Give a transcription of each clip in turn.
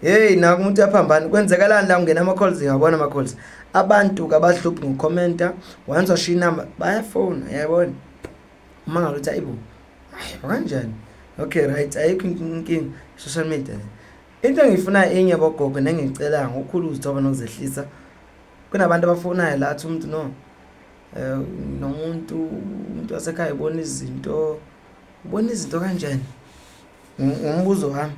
Hey naku umuntu yaphambana kwenzekalani la ungena ama calls ngiyabona ama calls abantu kabahluphi ngocommenta once washiya inamba bayafona yayibona uma ngaluthi ayibo hayi kanjani okay right ayikho inkinga social media into engiyifuna enye bogogo nengicela ngokukhulu uzithoba nokuzehlisa kunabantu abafonayo la athi umuntu no eh nomuntu umuntu wasekhaya ubona izinto ubona izinto kanjani ngumbuzo wami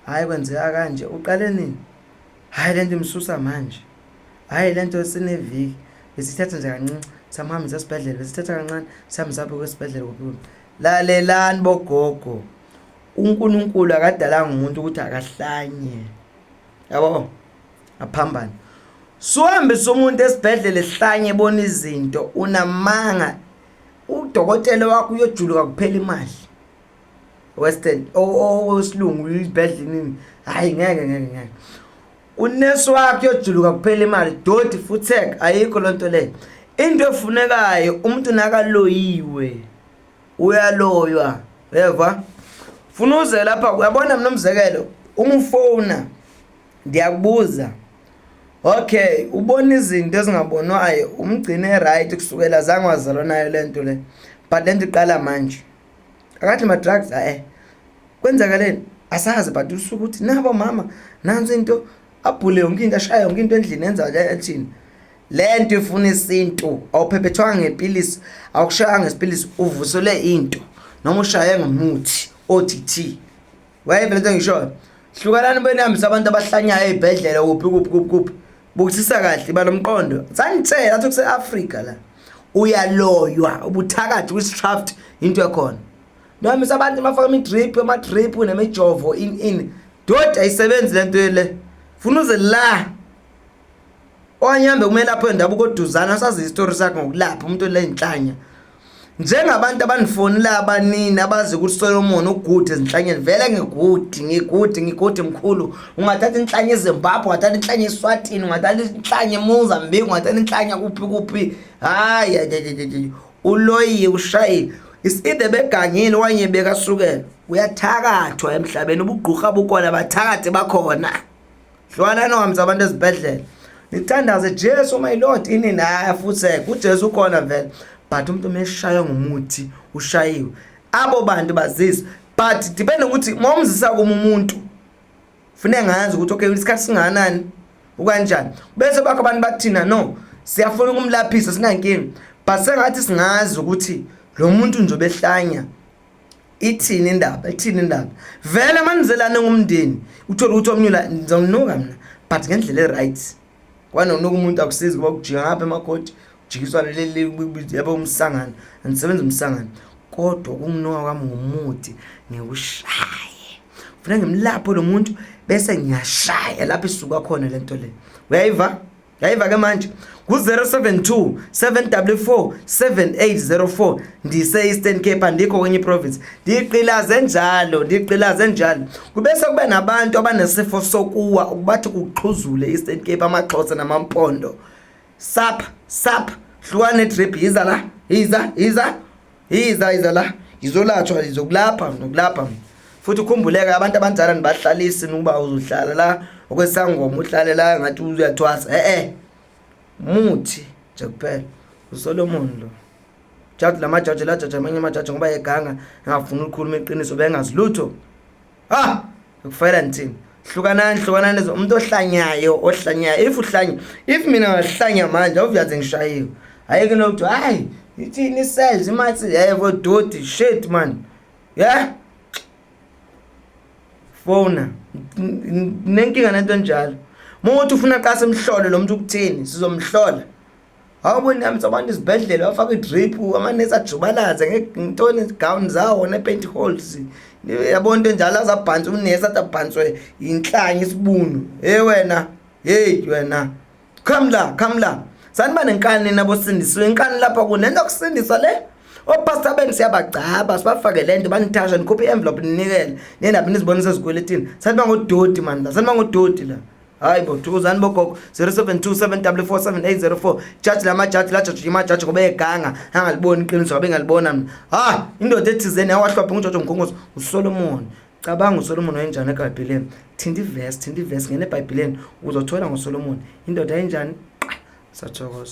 Hayi kwenzeka kanje uqale nini? Hayi lento imsusa manje. Hayi lento sineviki besithatha nje kancinci samhambisa esibhedlela besithatha kancane sihambisa apho kwesibhedlela kuphuma. Lalelani bogogo. UNkulunkulu akadalanga umuntu ukuthi akahlanye. Yabo? Aphambane. Suhambisa umuntu esibhedlela ehlanye ebona izinto unamanga. Udokotela wakho uyojuluka kuphela imali. western owesilungu uyibhedlinini hhayi ngeke ngeke ngeke unesi wakho yojuluka kuphela imali doti futhek ayikho loo nto leyo into efunekayo umuntu nakaloyiwe uyaloywa yeva funa uze lapha uyabona mna umzekelo uma ufowuna ndiyakubuza okay ubona izinto ezingabonwayo umgcine right kusukela zange wazalwa nayo le nto le but le nto iqala manje akathi ma drugs ae eh, kwenzakaleni asazi but usuke ukuthi nabo mama nansi into abhule yonke into ashaya yonke into endlini yenza ke ethini lento ifuna isintu awuphephethwanga ngepilisi awushaya ngesipilisi uvusele into noma ushaye ngomuthi othi thi wayevele sengishoyo hlukanani benihambisa abantu abahlanyayo ey'bhedlela kuphi kuphi kuphi kuphi bukisisa kahle iba nomqondo sanitshela athi kuse-afrika la uyaloywa ubuthakathi kwi-straft into ekhona nohambisa abantu bafaka ama-drip ama-drip nemijovo in in dodi ayisebenzi le nto le funa uze la Owanyambe umelaphi wendabuko oduzana asazi isitori sakhe ngokulapha umuntu olenhlanya njengabantu abanifonela abanini abazi ukuthi solomon ugude ezinhlanyeni vele ngigude ngigude ngigude mkhulu ungathatha inhlanya ezimbabwe ungathatha inhlanya eswatini ungathatha inhlanya emozambique ungathatha inhlanya kuphi kuphi hayi uloyiye ushayile iside begangile wanye bekasukela uyathakathwa emhlabeni ubugqurha bukhona bathakathi bakhona hlwanani uhambiza abantu ezibhedlela nithandaze jesu my lord ini naya futhi kujesu ukhona vele but umuntu umeshaywe ngumuthi ushayiwe abo bantu bazizwa but depende ukuthi uma umzisa kuma umuntu funeka ngazi ukuthi okay isikhathi singakanani ukanjani bese bakho abantu bathina no siyafuna ukumlaphisa sinankinga but sengathi singazi ukuthi lo muntu nje obehlanya ithini indaba ithini indaba vele manizelane ngumndeni uthole ukuthi omnyula ngizomnuka mina but ngendlela e-right kwanonuka umuntu akusizi kuba kujika ngapha emakhoti kujikiswa leli yabo umsangano andisebenzi umsangano kodwa ukumnuka kwami ngumuthi ngiwushaye kufuneka ngimlapho lo muntu bese ngiyashaya lapho isuka khona le nto le uyayiva yayiva ke manje ku-072 7w4 7804 ndise-eastern cape andikho kwenye iprovince ndiqilaze njalo ndiqilaze njalo kube sekuba nabantu abanesifo sokuwa ukubathi kuxhuzule e-eastern cape amaxhosa namampondo sapha sapha hlukane trip yiza la yiza yiza Yiza yiza la ngizolathwa ngizokulapha ngizokulapha futhi ukhumbuleke abantu abanjalo nibahlalisi ukuba uzohlala la okwesangoma uhlale la ngathi uyathwasa eh eh muthi nje kuphela uSolomon lo jaji lamajaji lajaji amanye amajaji ngoba eganga engafuni ukukhuluma iqiniso bengazi lutho ah ngikufayela ngithini hlukanani hlukanani umuntu ohlanyayo ohlanyayo if uhlanya if mina ngahlanya manje awuyaze ngishayiwe hayi ke lokuthiwa hayi ithini i-cells imathi yebo doti shit man yeah fona nenkinga nento enjalo uma uthi ufuna qase mhlole lo muntu ukuthini sizomhlola Hawu bo nami sabantu izibhedlela bafaka idrip amanesi ajubalaze ngentoni gown zawo ne paint holes yabona into enjalo azabhantswa unesi athi abhantswe yinhlanya isibunu hey wena hey wena come la come la saniba nenkani nabo sindisiwe inkani lapha kunento kusindiswa le opastor benu siyabagcaba sibafake lento banithasha nikhuphe i-envelope ninikele nendabi nizibonisa ezikweletini saniba ngodoti mani la saniba ngodoti la hayi bo thuzani bogogo 0727447804 jaji la majaji lajaji imajaji ngoba eganga angaliboni iqiniso ngabe ngalibona mina ha indoda ethizeni yawahlwapha ngujojo mgongozo usolomoni cabanga usolomoni wayenjani ebhayibhileni thinta ivesi thinta ivesi ngene ebhayibhileni uzothola ngosolomoni indoda yenjani sathokoza